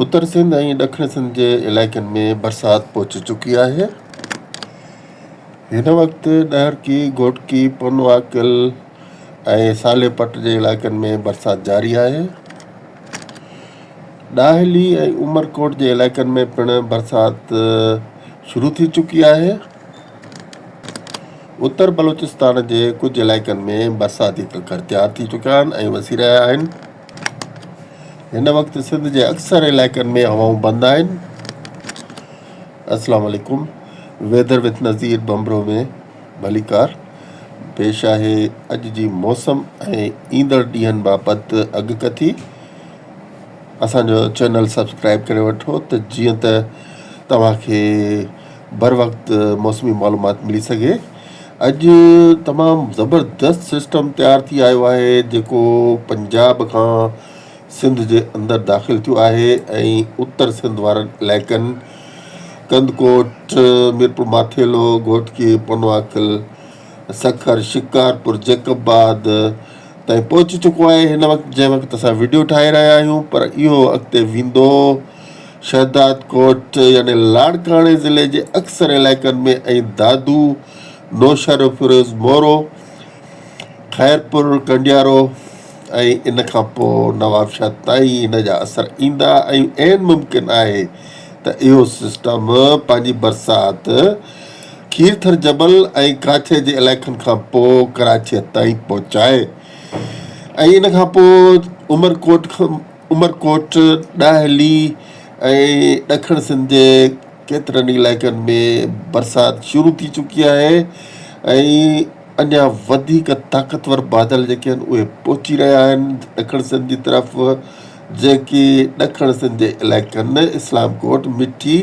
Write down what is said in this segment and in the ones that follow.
اتر سنڌ ۽ ڏکڻ سنڌ جي علائقن ۾ برسات پهچي چڪي آهي. هن وقت ڏهرڪي، گهوٽڪي، پونواڪل ۽ سالي پٽ جي علائقن ۾ برسات جاري آهي. ڏاهلي ۽ عمرڪوٽ جي علائقن ۾ پڻ برسات شروع ٿي چڪي آهي. اتر بلوچستان جي ڪجهه علائقن ۾ برساتي ڪڪر تيار ٿي چڪا آهن ۽ وسي رهيا آهن. هن وقت سنڌ جي اڪثر علائقن ۾ هوائون بند آهن السلام عليڪم ويدر وٿ نظير بمبرو ۾ ڀليڪار پيش آهي اڄ جي موسم ۽ ايندڙ ڏينهن بابت اڳڪٿي اسان جو چينل سبسڪرائب ڪري وٺو ته جيئن ته توهان کي بروقت موسمي معلومات ملي سگهي. اڄ تمام زبردست سسٽم تيار ٿي آيو آهي جيڪو پنجاب کان سنڌ جي اندر داخل ٿيو آهي ۽ اتر سنڌ وارن علائقن ڪنڌڪوٽ، ميرپورماٿيلو، گهوٽڪي، پنواڪل، سکر، شڪارپور، جيڪب آباد تائين پهچي چڪو آهي هن وقت جنهن وقت اسان وڊيو ٺاهي رهيا آهيون پر اهو اڳتي ويندو شهدادڪوٽ يعني لاڙڪاڻي ضلعي جي اڪثر علائقن ۾ ۽ دادو، نوشهروفيروز مورو، خيرپور، ڪنڊيارو ۽ ان کان پوء نوابشاهه تائين هن جا اثر ايندا ۽ عين ممڪن آهي ته اهو سسٽم پنهنجي برسات کير ٿر جبل ۽ ڪراچيء جي علائقن کان پوء ڪراچيء تائين پهچائي ۽ ان کان پوء عمر ڪوٽ کان عمر ڪوٽ، ڏاهلي ۽ ڏکڻ سنڌ جي ڪيترن ئي علائقن ۾ برسات شروع ٿي چڪي آهي ۽ اڃا وڌيڪ طاقتور بادل جيڪي آهن اهي پهچي رهيا آهن ڏکڻ سنڌ جي طرف جيڪي ڏکڻ سنڌ جي علائقن اسلام ڪوٽ، مٺي،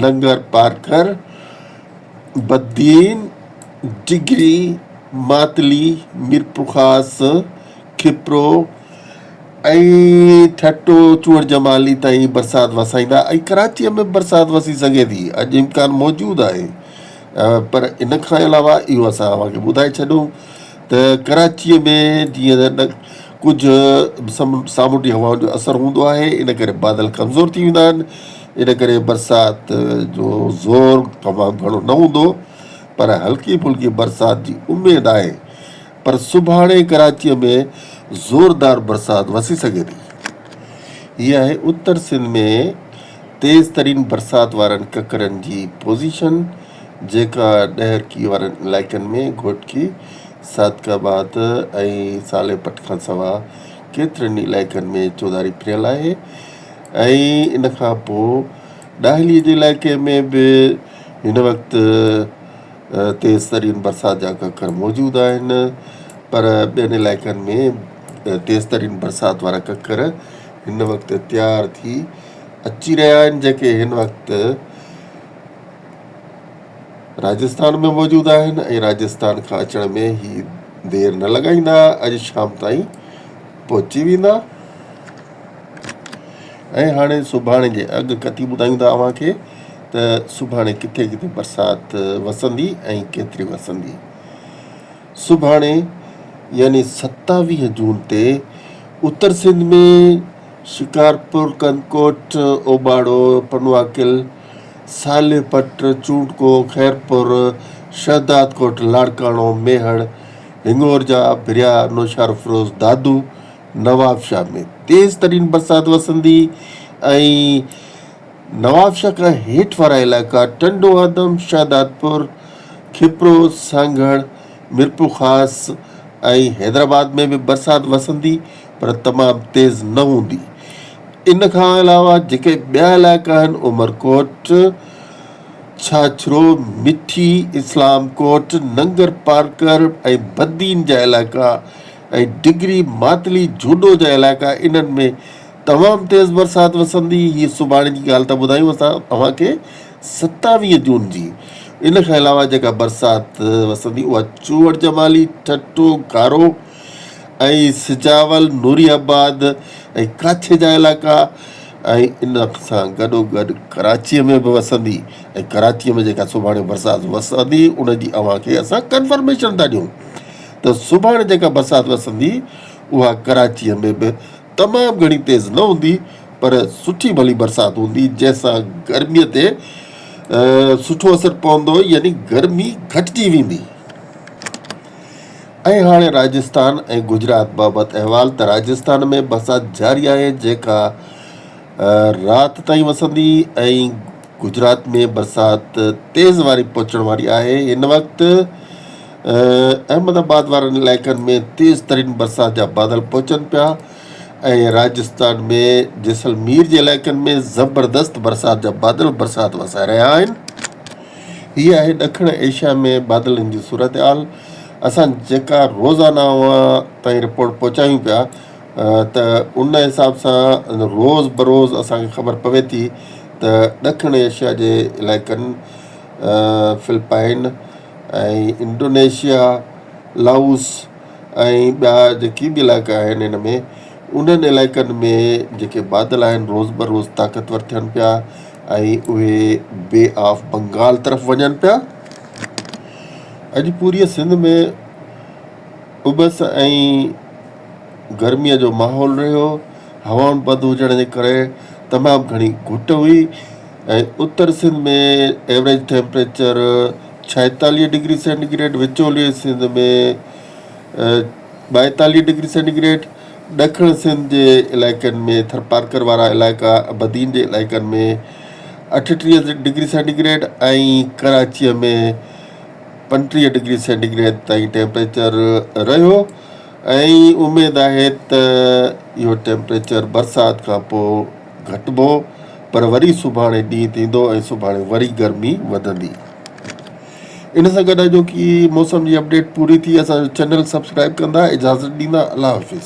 ننگر پارڪر، بدين، ڊگهي، ماتلي، ميرپورخاص، کپرو ۽ ٺٽو چوهڙ جمالي تائين برسات وسائيندا ۽ ڪراچيء ۾ به برسات وسي سگهي ٿي، اڄ امڪان موجود آهي پر ان کان علاوه اهو اسان اوهان کي ٻڌائي ڇڏيون ته ڪراچيء ۾ جيئن ڪجهه سامونڊي هوائن جو اثر هوندو آهي، ان ڪري بادل ڪمزور ٿي ويندا آهن، ان ڪري برسات جو زور تمام گهڻو نه هوندو، پر هلڪي ڦلڪي برسات جي اميد آهي، پر سڀاڻي ڪراچيء ۾ زوردار برسات وسي سگهي ٿي. هي آهي اتر سنڌ ۾ تيز ترين برسات وارن ڪڪرن جي پوزيشن، جيڪا ڏهرڪي وارن علائقن ۾ گهوٽڪي صادق آباد ۽ صالح پٽ کان سواء ڪيترن ئي علائقن ۾ چوڌاري ڦريل آهي ۽ ان کان پوء ڏاهلي جي علائقي ۾ به هن وقت تيز ترين برسات جا ڪڪر موجود آهن پر ٻين علائقن ۾ تيز ترين برسات وارا ڪڪر هن وقت تيار ٿي اچي رهيا آهن جيڪي هن وقت راجستان ۾ موجود آهن ۽ راجستان کان اچڻ ۾ هي دير نه لڳائيندا اڄ شام تائين پهچي ويندا ۽ هاڻي سڀاڻي جي اڳ ڪتي ٻڌايون ٿا اوهان کي ته سڀاڻي ڪٿي ڪٿي برسات وسندي ۽ ڪيتري وسندي سڀاڻي يعني ستاويهه جون تي اتر سنڌ ۾ شڪارپور ڪنڪوٽ اوباڙو پنواڪل صالح پٽ، چونڊڪو، خيرپور، شهدادڪوٽ، لاڙڪاڻو، ميهڙ، هڱور جا ڀريا نوشهرافروز، دادو، نوابشاهه ۾ تيز ترين برسات وسندي ۽ نوابشاهه کان هيٺ وارا علائقا ٽنڊو آدم، شهدادپور، کپرو، سانگهڙ، ميرپورخاص ۽ حيدرآباد ۾ به برسات وسندي پر تمام تيز نه هوندي. ان کان علاوه جيڪي ٻيا علائقا آهن عمرڪوٽ، ڇاڇرو، مٺي، اسلام ڪوٽ، ننگر پارڪر ۽ بدين جا علائقا ۽ ڊگري، ماتلي، جهوڏو جا علائقا انهن ۾ تمام تيز برسات وسندي، هي سڀاڻي جي ڳالهه ته ٻڌايون اسان اوهان کي ستاويهه جون جي، ان کان علاوه جيڪا برسات وسندي اها چوڙجمالي، ٺٽو، گارو، ۽ سجاول، نوري آباد ۽ ڪاڇي جا علائقا ۽ ان سان گڏوگڏ ڪراچيء ۾ به وسندي ۽ ڪراچيء ۾ جيڪا سڀاڻي برسات وسندي ان جي اوهان کي اسان ڪنفرميشن ٿا ڏيون ته سڀاڻي جيڪا برسات وسندي اها ڪراچيء ۾ به تمام گهڻي تيز نه هوندي پر سٺي ڀلي برسات هوندي جنهن سان گرميء تي سٺو اثر پوندو يعني گرمي گهٽجي ويندي. ۽ هاڻي راجسٿان ۽ گجرات بابت احوال ته راجسٿان ۾ بسات جاري آهي جيڪا رات تائين وسندي ۽ گجرات ۾ برسات تيز واري پهچڻ واري آهي هن وقت احمد آباد وارن علائقن ۾ تيز ترين برسات جا بادل پهچن پيا ۽ راجسٿان ۾ جيسلمير جي علائقن ۾ زبردست برسات جا بادل برسات وسائي رهيا آهن هي آهي ڏکڻ ايشيا ۾ بادلن جي صورتحال اسان جيڪا روزانه اوهان تائين رپورٽ پهچايون پيا ته ان حساب سان روز بروز اسان کي خبر پوي ٿي ته ڏکڻ ايشيا جي علائقن فلپائن ۽ انڊونيشيا لائوس ۽ ٻيا جيڪي به علائقا آهن ان ۾ انهن علائقن ۾ جيڪي بادل آهن روز بروز طاقتور ٿين پيا ۽ اهي بي آف بنگال طرف وڃن پيا. اڄ پوريء سنڌ ۾ اٻس ۽ گرميء جو ماحول رهيو. هوائن بند هجڻ جي ڪري تمام گهڻي گهٽ هئي ۽ اتر سنڌ ۾ ايوريج ٽيمپريچر ڇائيتاليهه ڊگري سينٽي گريڊ، وچولي سنڌ ۾ ٻائيتاليهه ڊگري سينٽي گريڊ، ڏکڻ سنڌ جي علائقن ۾ ٿرپارڪر وارا علائقا بدين جي علائقن ۾ اٺٽيهه ڊگري سينٽي گريڊ ۽ ڪراچيء ۾ پنجٽيهه ڊگري سينٽي گريڊ تائين ٽيمپريچر رهيو ۽ اميد آهي ته اهو ٽيمپريچر برسات کانپوء گهٽبو پر وري سڀاڻي ڏينهن ٿيندو ۽ سڀاڻي وري گرمي وڌندي. ان سان گڏ اڄوڪي موسم جي اپڊيٽ پوري ٿي اسان جو چينل سبسڪرائيب ڪندا اجازت ڏيندا الله حافظ.